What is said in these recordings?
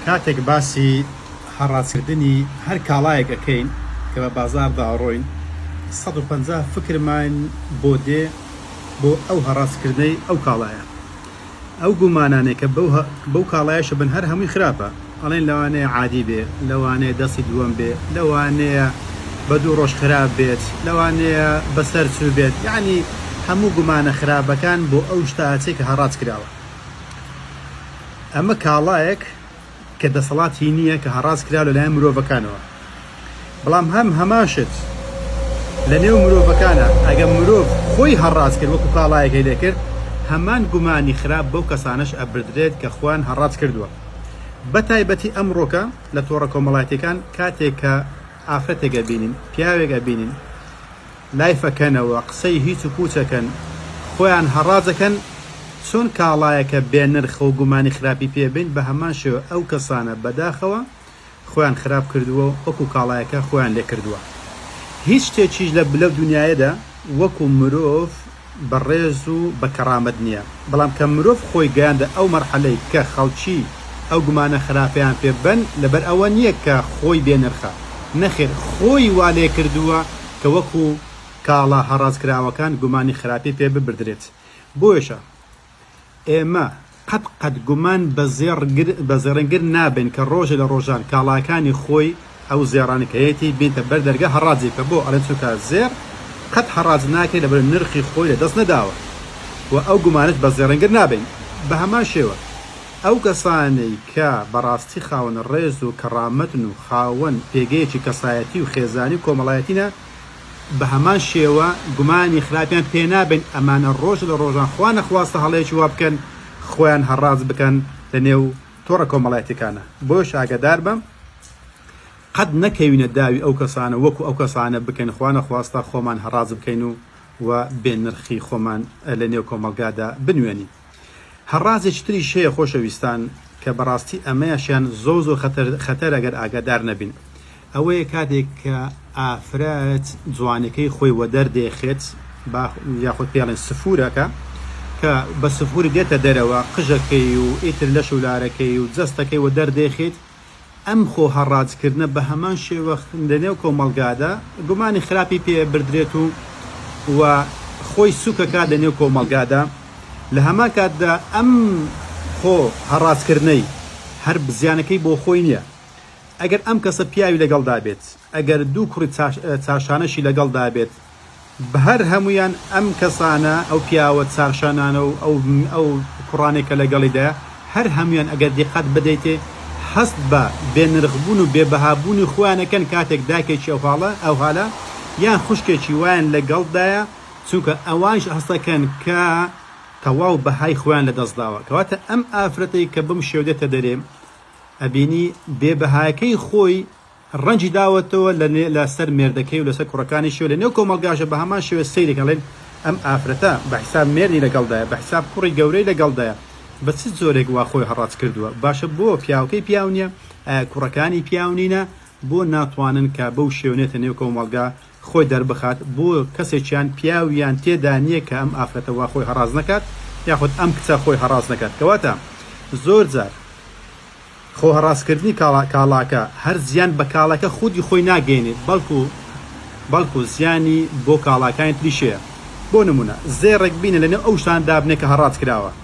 کاتێک باسی هەڕاجکردنی هەر کاڵایەک ئەکەین کە بە بازاڕدا ئەڕۆین سەد و پەنجا فکرمان بۆ دێ بۆ ئەو هەڕاجکردنەی ئەو کاڵایە ئەو گومانانەی کە بەو کاڵایەشە بن هەر هەمووی خراپە ئەڵێن لەوانەیە عادی بێ لەوانەیە دەستی دووەم بێ لەوانەیە بە دوو ڕۆژ خراپ بێت لەوانەیە بەسەر چوو بێت یەعنی هەموو گومانە خراپەکان بۆ ئەو شتە ئەچێ کە هەڕاج کراوە. ئەمە کاڵایەک کە دەسەڵات هی نییە کە هەڕاج کرا لە لایەن مرۆڤەکانەوە بەڵام هەم هەمان شت لە نێو مرۆڤەکانە ئەگەم مرۆڤ خۆی هەڕاج کرد وەکو کاڵایەکەی لێکرد هەمان گومانی خراپ بەو کەسانەش ئەبردرێت کە خۆیان هەڕاج کردووە بە تایبەتی ئەمڕۆکە لە تۆڕە کۆمەڵاتیەکان کاتێک کە ئافرەتێک ئەبینین پیاوێک ئەبینین لایفەکەنەوە قسەی هیچ و پوچەکەن خۆیان هەڕاجەکەن چۆن کاڵایەکە بێ نرخەو گومانی خراپی پێ بین بەهەمان شێوە ئەو کەسانە بەداخەوە خۆیان خراپ کردوە و وەکو کاڵایەکە خۆیان لێ کردوە هیچ شتێکیش لە لەو دونیایەدا وەکو مرۆڤ بە ڕێز و بە کەڕامەت نیە بەڵام کە مرۆڤ خۆی گەیاندە ئەو مەرحەلەی کە خەڵکی ئەو گومانە خراپەیان پێ بەن لەبەر ئەوە نیە کە خۆی بێ نرخە نەخێر خۆی وا لێ کردوە کە وەکو کاڵا هەڕاج کراوەکان گومانی خراپی پێ ببردرێت بۆیەشە ئێمە قەت قەت گومان بە زێڕنگر نابەین کە ڕۆژێ لە ڕۆژان کاڵاکانی خۆی ئەو زێڕانەی کە هەیەتی بێنیتە بەر دەرگا هەڕاجی بکە بۆ ئەڵێن چونکە زێڕ قەت هەڕاج ناکرێت لەبەر نرخی خۆی لە دەست نەداوە و ئەو گومانەش بە زێڕنگر نابەین بە هەمان شێوە ئەو کەسانەی کە بەڕاستی خاوەن ڕێز و کەڕامەتن و خاوەن پێگەیەکی کەسایەتی و خێزانی و کۆمەڵایەتینە بەهەمان شێوە گومانی خراپیان پێنابەین ئەمانە ڕۆژ لە ڕۆژان خوا نەخواستە هەڵەیەکی وا بکەن خۆیان هەڕاج بکەن لە نێو تۆڕە کۆمەڵایەتیەکانا بۆیەش ئاگاداربە قەت نەکەوینە داوی ئەو کەسانە وەکو ئەو کەسانە بکەین خوا نەخواستە خۆمان هەڕاج بکەین و و بێ نرخی خۆمان لە نێو کۆمەڵگادا بنوێنین. هە ڕازێکی تریش هەیە خۆشە ویستان کە بە ڕاستی ئە مەیشیان زۆر زۆر خەتەرە گەر ئاگە دار نە بین ئە وەیە کاتێک کە ئافرە ت جوانە کەی خۆی وە دەر دێ خێت با یاخود پێڵێن سفورە کە کە بە سفوری دێتە دەرەوە قژە کەی و ئیتر لە شولارە کەی و جەستە کەی وە دەر دێ خێت ئەم خۆ هەڕاجکردنە بە هەمان شێوە لە نێو کۆمەڵگادا گومانی خراپی پێ بردرێت و و خۆی سوک ئەکات لە نێو کۆمەڵگادا لە هەمان کاتدا ئەم خۆ هەڕاجکردنەی هەر زیانەکەی بۆ خۆی نیە ئەگەر ئەم کەسە پیاوی لەگەڵدا بێت ئەگەر دوو کوڕی چاشانەشی لەگەڵدا بێت بهر هەموویان ئەم کەسانە ئەو پیاوە چاکشانانە و ئەو ئەو کوڕانەی کە لەگەڵیدایە هەر هەموویان ئەگەر دیقەت بدەیتێ هەست بە بێ نرخ بوون و بێ بەها بوونی خۆیان ئەکەن کاتێک دایکێکی ئەو هاڵە ئەو هالە یان خوشکێکی وایان لەگەڵدایە چونکە ئەوانیش هەستەکەن کە تەواو بەهای خۆیان لە دەست داوە کەواتە ئەم ئافرەتەی کە بەم شێوە دێتە دەرێ ئەبینی بێ بەهایەکەی خۆی ڕەنجی داوەتەوە لە لە سەر مێردەکەی و لە سەر کوڕەکانیشی و لە نێو کۆمەڵگاشە بە هەمان شێوە سەیری کە ئەڵێن ئەم ئافرەتە بە حیساب مێردی لە گەڵدایە بە حیساب کوڕی گەورەی لە گەڵدایە بە چ جۆرێک وا خۆی هەڕاج کردووە باشە بۆ پیاوەکەی پیاو نییە ئایا کوڕەکانی پیاو نینە بۆ ناتوانن کە بەو شێونێتە نێو کۆمەڵگا خۆی دەربخات بۆ کەسێکیان پیاویان تێدا نیە کە ئەم ئافرەتە وا خۆی هەڕاز نەکات یاخود ئەم کچە خۆی هەڕاز نەکات کەواتە زۆر جار خۆ هەڕاز کردنی کاڵا کاڵاکە هەر زیان بە کاڵەکە خودی خۆی ناگەینێت بەڵکو بەڵکو زیانی بۆ کاڵاکانی تریش هەیە بۆ نمونە زێڕێک بینە لەنێو ئەو شتانە دابنێ کە هەڕاج کراوە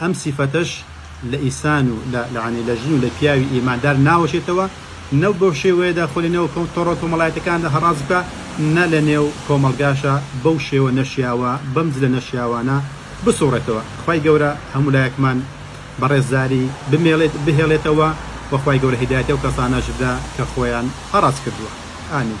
ئەم سیفەتەش لە ئیسان و لە لەعنی لە ژن و لە پیاوی ئیماندار ناوەشێتەوە، نە بەو شێوەیەدا خۆی لە نێو کۆ تۆڕە کۆمەڵایەتەکاندا هەڕاج بکا، نە لە نێو کۆمەڵگاشا بەو شێوە نەشیاوە، بەم جلە نەشیاوانە بسوڕێتەوە. خوای گەورە هەموو لایەکمان بە ڕێزداری بمێڵێت بهێڵێتەوە و خوای گەورە هیدایەتی ئەو کەسانەش بدا کە خۆیان هەڕاج کردووە. ئامین.